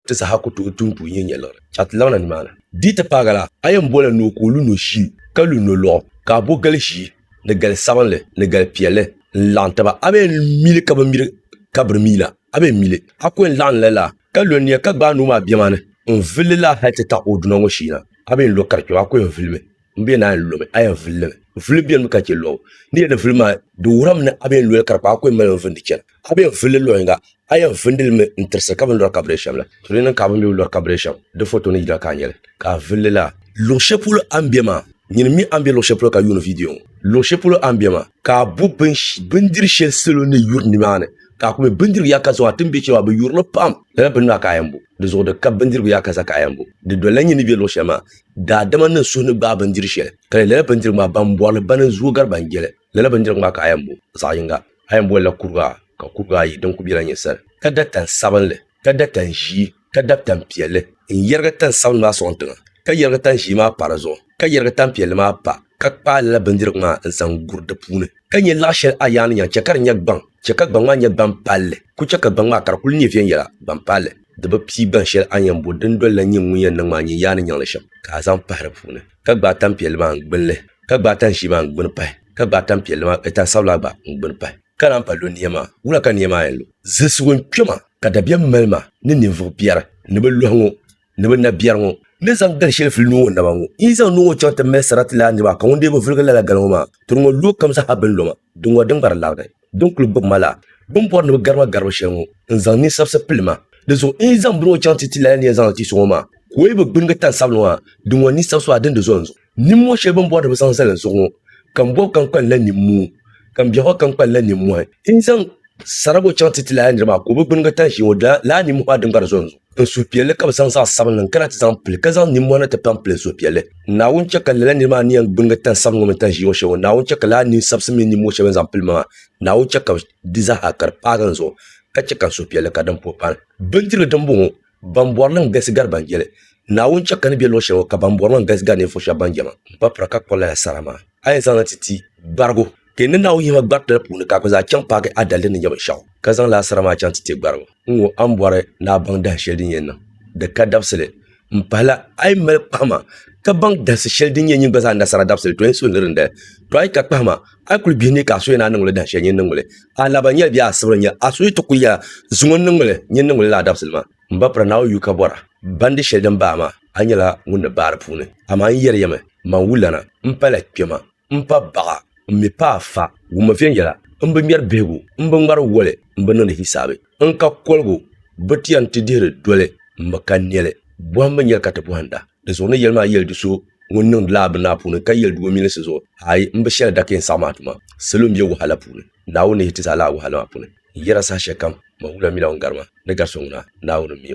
Ti saha ku tooi tuun puu nyɛ nyɛliɣiri ka ti laɣina nimaani. Di ti paagi la, a yɛn boli ni o ka o lu nɔshii, ka lu nɔlɔɣu, ka a bo gal ʒii, ni gal sabinli, ni gal piɛlli n-laɣim taba. A bi yɛn mi li ka bɛ miri ka biri mi la, a bi yɛn mi li. A ku yɛn laɣim la laa, ka lo nia ka gbaai noo maa bɛma ni n-vuli li laa hal ti taɣi o duna ŋɔ shee na. A bi yɛn lo ka di kpɛbu, a ku yɛn vuli mi. n bɛ naan lomi a yɛn vuli limi n vuli biɛni mi ka chɛ lobu n ni yɛn vuli maa di wuhirimi ni a bɛ yɛn loli ka di kpaai ko n mali n vindi chɛna a bɛ yɛn vulili luɣ yinga a yɛn vindi limi n tirisi ka bin lori ka bi dee shɛm la to di niŋ ka bin bi lori ka bi dee shɛm di foto ni yina ka a nyɛli ka a vulili laa luɣ shɛli polo a ni bɛ maa nyini mi a ni bɛ luɣ shɛli polo ka yuuni viidiyo ŋɔ luɣ shɛli polo a ni bɛ maa ka a bo bindiri shɛli salo ni yuri nimaani ka a ku mi bindirigu yaa ka zaŋ a ti ni bɛ chɛli maa bi yuri li pam lala bini maa ka a yɛn bo di zuɣu di ka bindirigu yaa ka za ka a yɛn bo di dolila nyini ni bɛ luɣ shɛli maa Daadama niŋ suhu ni gbaai bindiri shɛli ka di lala bindirigu maa ban bɔri li bana n-zooi gari ban je li. Lala bindirigu maa ka a yɛn bo zaɣ yiŋga. A yɛn boli la kurigu a ka kurigu ayi din kuli bela nyɛ sali, ka da tan sabinli, ka da tan ʒii, ka dab tan piɛlli n-yɛrigi tan sabinli maa sɔŋ tiŋa, ka yɛrigi tan ʒii maa pa di zuɣu, ka yɛrigi tan piɛlli maa pa, ka kpaai lala bindirigu maa n-zaŋ guri di puuni. Ka nyɛ laɣ shɛli a yaa ni nyaŋ, chɛ ka di nyɛ gbaŋ, chɛ ka gbaŋ maa nyɛ gbaŋ palli, kul chɛ ka gbaŋ maa ka di kul nyɛ viɛnyɛla, gbaŋ palli. di bi pii gbaŋ shɛli a ni yɛn bo dindoli la nyin ŋun yɛn niŋ maa nyin yaa ni nyaŋ li shɛm, ka a zaŋ pahi di puuni, ka gbaai tanpiɛlli maa n-gbinli, ka gbaai tan ʒii maa n-gbini pahi, ka gbaai tanpiɛlli maa, e, tan sabila gba n-gbini pahi, ka naan pa lo nia maa. Wula ka nia maa yɛn lu? Zilisigu n-kpe ma, ka dabiɛm mali ma ni ninvuɣ biɛri ni bɛ lɔhi ŋɔ ni bɛ nabiɛri ŋɔ, ni zaŋ gal shɛli fili nuu ŋɔ naba ŋɔ. N yi zaŋ nuu ŋɔ chaŋ ti mali sarati laa niriba, ka ŋun dee bi viligi lala gal ŋɔ maa, tiri ŋɔ luɣ kam zaa ha bɛ ni lo ma. Di ŋɔ din gari laɣiri din kuli gbubi ma la, bɛ ni bɔri ni bɛ gari ma garibu shɛli ŋɔ n-zaŋ ninsabisi pili ma. Di zuɣu n yi zaŋ bini ŋɔ chaŋ ti ti lala ni yɛn zaŋ li ti so ŋɔ maa, ka o yi bi gbinigi tani sabinli ŋɔ ha, di ŋɔ ninsabisi maa dini di zo n-zuɣu. Nimmɔhi shɛli bɛ ni bɔri ni bɛ zaŋ zali n zuɣu ŋɔ, ka m bɔbi ka n kpa li la nimmuu, ka m biɛhigu ka n kpa li la nimmɔhi, n yi zaŋ sara ŋɔ chaŋ ti ti lala nira maa ka o bi gbinigi tani ʒee ŋɔ, di lala nimmɔhi maa din gari zo n-zuɣu. Ka suhupiɛlli ka bi zaŋ zaɣ sabinli n kana ti zaŋ pili ka zaŋ nimmɔhi ni ti pam pili suhupiɛlli naawuni chɛ ka lala niri maa ni yɛn gbinigi tani sabinli ŋɔ mini tani ʒiɛ ŋɔ shɛli ŋɔ naawuni chɛ ka laa nin sabisi mini nimmɔhi shɛli bini zaŋ pili ma maa naawuni chɛ ka di zaaha ka di paagi n zuɣu ka chɛ ka n suhupiɛlli ka din puhi paani bindirigu din bɔŋɔ ban bɔri li n galisi gari ban jɛli naawuni chɛ ka ni bɛ luɣu shɛli ŋɔ ka ban bɔri ma n galisi gari ninvuɣu shɛba ban jɛma n pa pira ka kpuɣi lala sara maa a yɛn zaŋ na ti ti gbarigu Ti ni Naawuni yihima gbariti la puuni ka a kpi zaa chaŋ paagi a daliri ni nyɛ binshɛɣu, ka zaŋ laa sara maa chaŋ ti ti gbarigu n ŋɔ, a ni bɔri ni a baŋ dahin shɛli din yɛn niŋ di ka dabisili m pahila, a yi mali kpahima ka baŋ dahisi shɛli din yɛn nyin gba zaa nasara dabisili, tɔ n suhindiri n dali. Tɔ a yi ka kpahima, a yi kul bihi ni ka a suhi ni a niŋ li dahin shɛli nyin niŋ li, a laba nyɛli bee a sibiri nyɛli, a suhi ti kul yɛla, Zuŋɔ n-niŋ li, nyin niŋ li laa dabisili maa. M ba pira Naawuni yu ka bɔra, bandi shɛli din baai maa, a nyɛla ŋun ni baai di puuni. Amaa n yɛri ya mi, man wulana, m pala kpɛma. M pa baɣa m mi pa a fa wumma viɛnyɛla m bi ŋmɛri bihigu m bi ŋmari woli m bi niŋdi hisaabi n ka koligu bi ti yɛn ti dihiri doli m mi ka nɛli bɔhim mi nyɛli ka ti bɔhinda di zuɣu ni yɛli maa yɛli di so ŋun niŋdi la a bini maa puuni ka yɛli di o milinsi zuɣu aai m bi shɛli dakeen saɣim a tuma salo m be wahala puuni Naawuni ni yi ti zaa lahi wahala maa puuni n yɛra saha shɛlikam mawula mi la ŋun gari ma ni gari so ŋuna Naawuni m mi o.